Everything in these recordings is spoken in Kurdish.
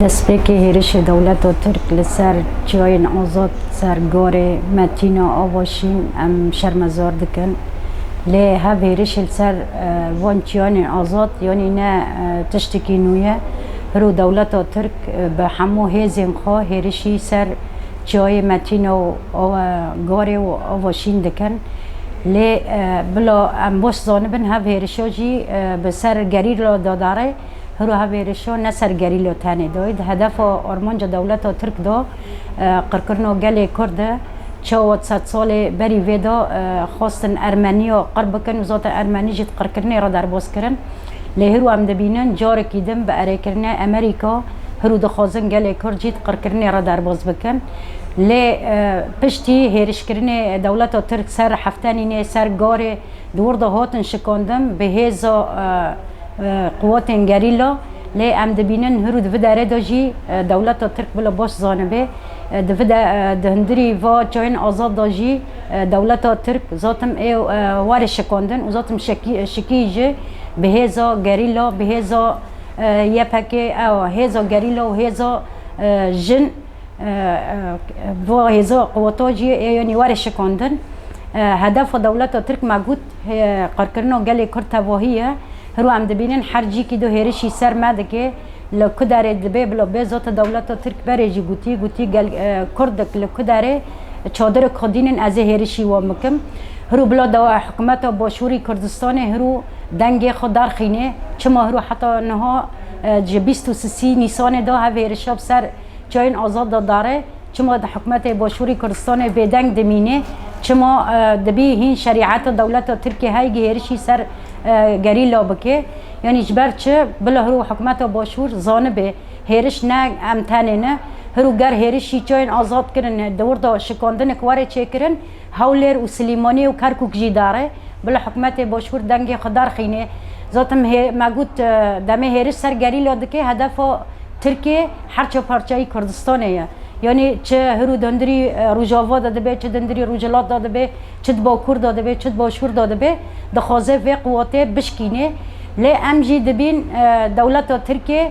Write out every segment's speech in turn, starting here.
Destpêkê hêrişê dewleta Tirk li ser Çiyayên Azad ser Garê Metîna Ava Şîn em şermezar dikin. Lê hev hêrişê li ser van çiyanên azad yanî ne tiştekî nû ye. Piro dewleta Tirk bi hemû hêzên xwe hêrişî ser Çiyayê Metîna û Garê û Ava Şîn dikin. Lê bila em baş zanibin hev hêrişa jî bi ser gerîla de dare. Hiroha vê êrişo ne ser gerîlo tenê doy di hedefa armanca dewleta Tirk de qirkirino gelê Kurd e. Çawa sed salê berî vê de xwestin Ermeniya qir bikin û zaten Ermenî jî di qirkirinê re derbas kirin. Lê hiro em dibînin carekî din bi erêkirinê Emerîka hiro dixwazin gelê Kurd jî di qirkirinê re derbas bikin. Lê piştî hêrişkirinê dewleta Tirk ser Heftenînê, ser Garê di wir de hatin şikandin bi hêza Quwetên gerîla, lê em dibînin hir û di vi derê de jî dewleta Tirk bila baş zanibê. Di vi de di hundirî va çayên azad de jî dewleta Tirk zatim ê warê şikandin û zatim şikî ji bi hêza gerîla, bi hêza YPG, ewa hêza gerîla û hêza jin va hêza quweta jî ê yanî warê şikandin. Hedefa dewleta Tirk me got. Qirkirina gelê Kurd tevahî ye. Hiro em dibînin her cîkî do hêrişî ser me dike. Li ku derê dibe bila bê zata dewleta Tirk berê jî gotî, gotî gel Kurdik li ku derê çadirik xwe dînin ez ê hêrişî wan bikim. Hiro bila dewa hikûmeta Başûrî Kurdistanê hiro dengê xwe darxîne. Çima hiro heta niha ji bîst û sisî Nîsanê de hev hêrişa bi ser çayên azad de dare. Çima di hikûmetê Başûrî Kurdistanê bêdeng dimînê? Çima dibî hîn şerîet û dewleta Tirkî heyî hêrişî ser gerîla bike? Yanî ji ber çi? Bila hirû hikûmeta Başûr zanibe hêriş ne em tenê ne. Hirû ger hêrişî çayên azad kirine, di wir de şikandinek were çêkirin, Hewlêr û Silîmaniyê û Kerkûk jî dar e. Bila hikûmetê Boşkûr dengê xwe darxîne. Zatim hê me got demê hêriş ser gerîla dike hedefa Tirkê her çar parçeyî Kurdistanê ye. Yanî çi hir û dundirî Rojava de dibe, çi dundirî Rojhilat de dibe, çi di Bakur de dibe, çi di Başûr de dibe dixwaze vê quwatê bişkîne. Lê em jî dibîn dewleta Tirkê.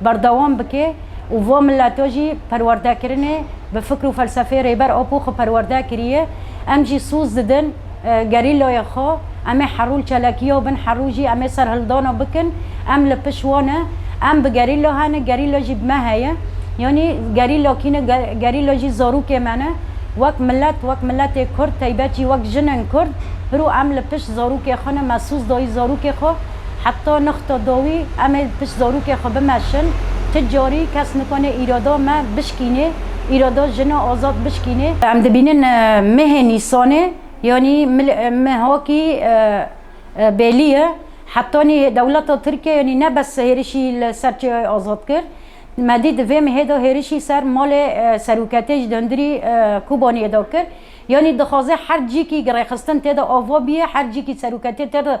berdewam bike û va mileto jî perwerdekirinê bi fikr û felsefeyê Rêber Apo xwe perwerde kiriye. Em jî soz didin gerîlayê xwe, em ê herû li çalakiya bin, herû jî em ê serhildana bikin. Em li pişt wan e. Em bi gerîla hene, gerîla jî bi me heye. Yanî gerîla kî ne? Gerîla jî zarokê me ne. Wek milet, wek miletê Kurd, taybet jî wek jinên Kurd, pirû em li pişt zarokê xwe ne, me soz dayî zarokê xwe. Heta nixta dawî em ê pişt zarokê xwe bimeşin, ti carî kes nikane îrada me bişkînê, îrada jina azad bişkînê. Em dibînin mehê Nîsanê yanî mehakî bêlî ye, hetanî dewleta Tirkiye yanî ne bes hêrişî li ser Çiyayê Azad kir, me dît di vê mehê de hêrişî ser malê seroketê ji hundirî Kobaniyê de kir, yanî dixwaze her cîkî rêxistin tê de ava bîye, her cîkî seroketê tê de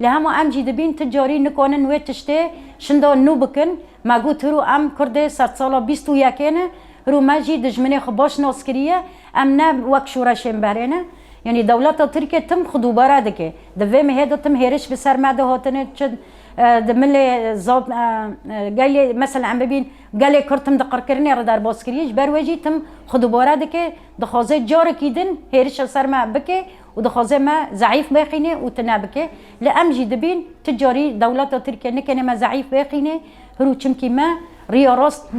Lê hema em jî dibîn tu carî nikanin wê tiştê şinda nû bikin. Me got hirû em kurdê sedsala bîst û yekê ne, hirû me jî dijminê xwe baş nas kiriye, em ne wek şoreşên berê ne. Yanî dewleta tirkê tim xwe dubare dike. Di vê mehê de tim hêriş bi ser me de hatine çi di milê zaf gelê mesela em bibîn gelê kurd tim di qirkirinê re derbas kiriye ji ber wê jî tim xwe dubare dike, dixwaze carekî din hêriş li ser me bike Û dixwaze me zeîf bêqîne û tune bike. Lê em jî dibîn tu carî dewleta Tirkiye nikenê me zeîf bêqîne. Hirû çimkî me riya rast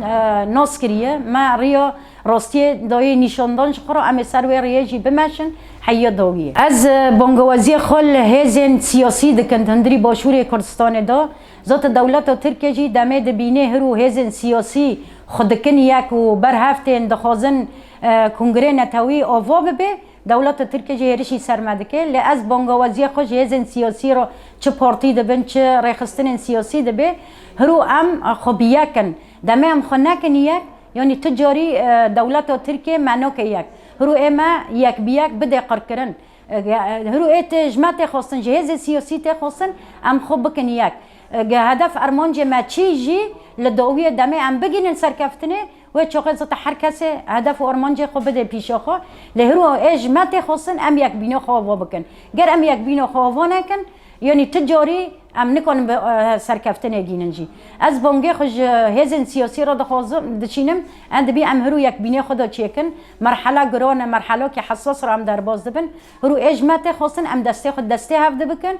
nas kiriye. Me riya rastiyê dayê nîşandan ji xwe re em ê ser wê riyê jî bimeşin heyiya dawî ye. Ez bangewaziyê xwe li hêzên siyasî dikin di hundirî başûrê Kurdistanê de. Zata dewleta Tirkiye jî demê dibînê hirû hêzên siyasî xwe dikin yek û ber hev tên dixwazin kongrê netewî ava bibe. Dewleta Tirkê jî hêrişî ser me dike, lê ez bangawazîya xwe ji hêzên siyasî re çi partî dibin, çi rêxistinên siyasî dibê, hirû em xwe bi yek in. Demê em xwe nekin yek, yanî tu carî dewleta Tirkê me nake yek. Hirû ê me yek bi yek bidê qirkirin. Hirû ê tê ji me tê xwestin, ji hêzê siyasî tê xwestin em xwe bikin yek. Hedef ermancê me çî jî li dawiyê demê em bigihînin serkeftinê, Wê çoxê zite her kesê hedef û armancê xwe bidê pîşê xwe. Lê hiro ê ji me tê xwestin em yekbîno xwe ava bikin. Ger em yekbîno xwe ava nekin, yanî tu carî em nikarin bi serkeftinê gînin jî. Ez bangê xwe ji hêzên siyasî re dixwazim, diçînim, em dibî em hiro yekbînê xwe de çêkin. Merhela giran e, merhelakî hesas re em derbas dibin. Hiro ê ji me tê xwestin em destê xwe destê hev de bikin.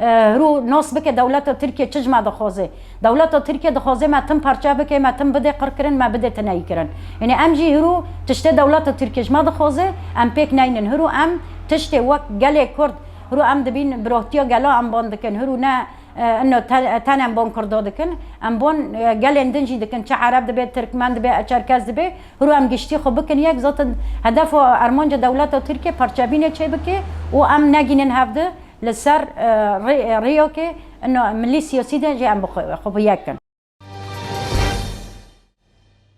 Rû nas bike dewleta Tirkiye çi ji me dixwaze. Dewleta Tirkiye dixwaze me tim parçe bike, me tim bide qirkirin, me bide tineyîkirin. Yanî em jî hirû tiştê dewleta Tirkiye ji me dixwaze em pêk neynin. Hirû em tiştê wek gelê Kurd hirû em dibîn bi rohtiya gela em ban dikin. Hirû ne inna ten em ban Kurda dikin. Em ban gelên din jî dikin. Çi Ereb dibe, Tirkmen dibe, Çerkes dibe. Hirû em giştî xwe bikin yek. Zaten hedefa armanca dewleta Tirkiye parçebînê çêbike û em negînin hev di. Li ser rêyokê milî siyasî de jî em xwe bi yek kin.